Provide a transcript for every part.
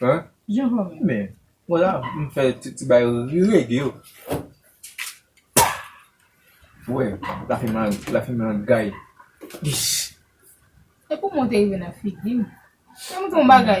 Hein Jean Paul menm. Men Mwen la m fè ti bay reggae yo. Ou wè la fè mal la fè mal gay. Ish. E kouman ou te rive nan figi m? Fè m di w yon bagay.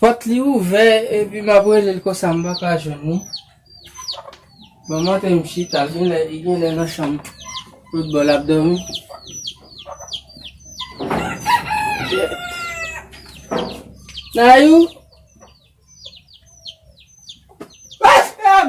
Pòt li ouvè epi map rele l konsa m paka jwenn li. Mwen monte m chita l genlè li genlè nan chanm lòt bò lap dòmi. Nayou! Pase m!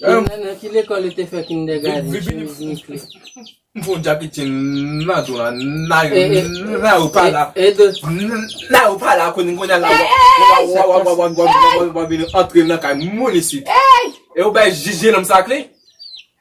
Genlè nan ki lekòl ou te fè kindègaden? Chemiz mi kle. M fon jakitin nan tou la nayou pa la nayou pa la kounye kounye la wap vini antre nan kay moun isit e ou bay jije nonm sa kle.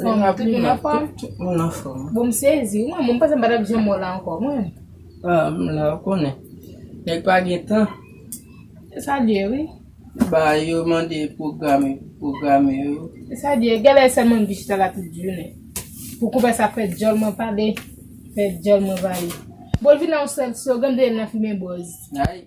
Fòm tout moun an fòm? Tout moun an fòm. Bon m sezi wi, mwen panse m pa t ap janm wè w la ankò mwen. Ah, m la, ou konnen. Nèg pa gen tan. E sa di e wi. Ba yo mande pwograme, pwograme yo. E sa di e, gen lè sèlman m vin chita la tout jounen. Pou konpè sa fè djòl mwen pale, fè djòl mwen vale. Bon l vin la yon sèl slogan m te tande nan flimen Bòz. Ayy.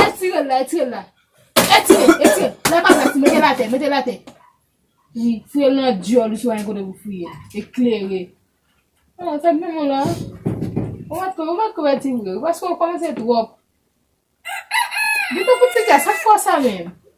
Etire l la, etire l la. Etire, etire. La pa plas, mete l atè, mete l atè. Wi, fouye l nan dyòl ou si w pa gen kote pou fouye. Eklere. An, sa menm w la. Ou pa t ko, ou pa t ko etire l. Paske ou kòmanse twòp. Gen tan pou ti gas, sa fò sa menm.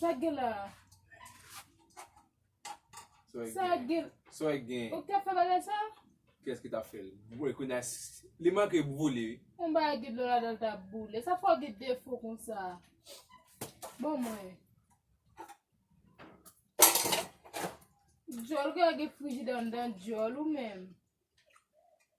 Sa gen la. Sa gen. Sa gen. Ou ka fè bagay sa? Kès ki ta fè l? Mwen kou nas. Li manke boule. Mwen ba gid lò la dal ta boule. Sa fò gid defo kon sa. Bon mwen. Djòl gen a gen friji dan dan djòl ou menm.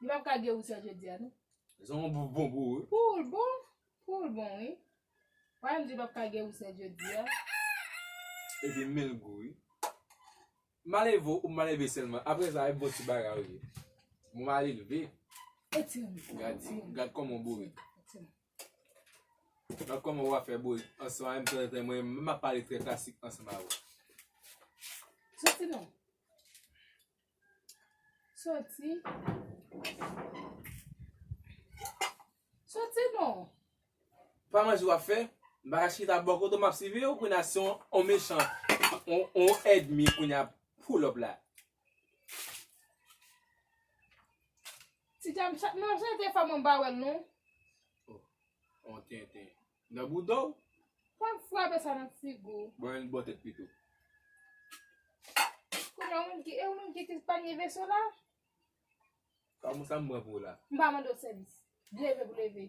Li pap ka gen roussel jodi a non. Sa yon bouf bon pou ou. Pou l bon. Pou l bon wi. Wè m di pap ka gen roussel jodi a. Epi men l gou wi. Maleve ou maleve selman. Apre sa e bon ti bagay ou ye. Bon malelve. Gad koman ou bourik. Gad koman ou a fè bourik. Ansanm avè m tanzantan mwen menm m ap pale trè klasik ansanm avè w. Soti non. Soti. Soti non. Pa manje wap fè. Bagay chita bò kote map siviw kounya se yon mechan yon èdmi kounya ap pull up la. Ti dam chat mwen ap chante fò mwen pa wèl non. Oh yon tenten. Nan boudaw. Pa frape sa nan figu. Bon yon bò tèt pito. Kounye ou menm ki e ou menm ki te panye veso la. Ka mou sa m pran pou la. M pa mande w sèvis. Leve pou leve.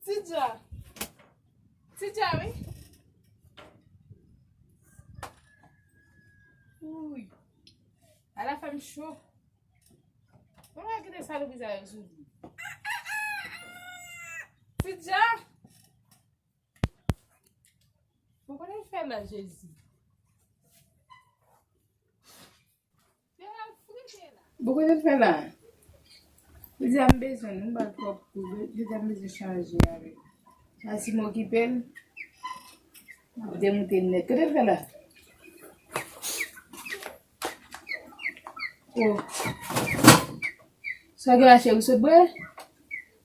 Ti dja. Ti dja wi. Ouy. A la fèm chou. Mwen wè ki de sa loupi zay yo sou di. Ti dja. Mwen konnen fè la jezi. Bon kote l fè la? Li di a m bezwen l, m ba l twòp kou, li di a m bezwen chanje avè l. Sa si m okipe l, m ap demoute l nèt. Kote l fè la? O, sa gen la cheri, w sot bwè?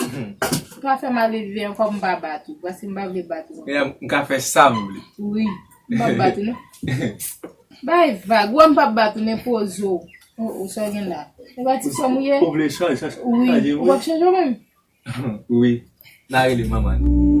Ou pa fè mal elve ankò m pa bat ou paske m pa vle bat ou ankò. M ka fè sa m vle. Wi. M pap bat ou non. Bay vag. Ou wè m pap bat ou men poze w. Oh oh sa w gen la. E pa ti sè m ou ye? Ou vle chanje chanje m wi. Ou pap chanje w menm? Wi. Na rele manman nou.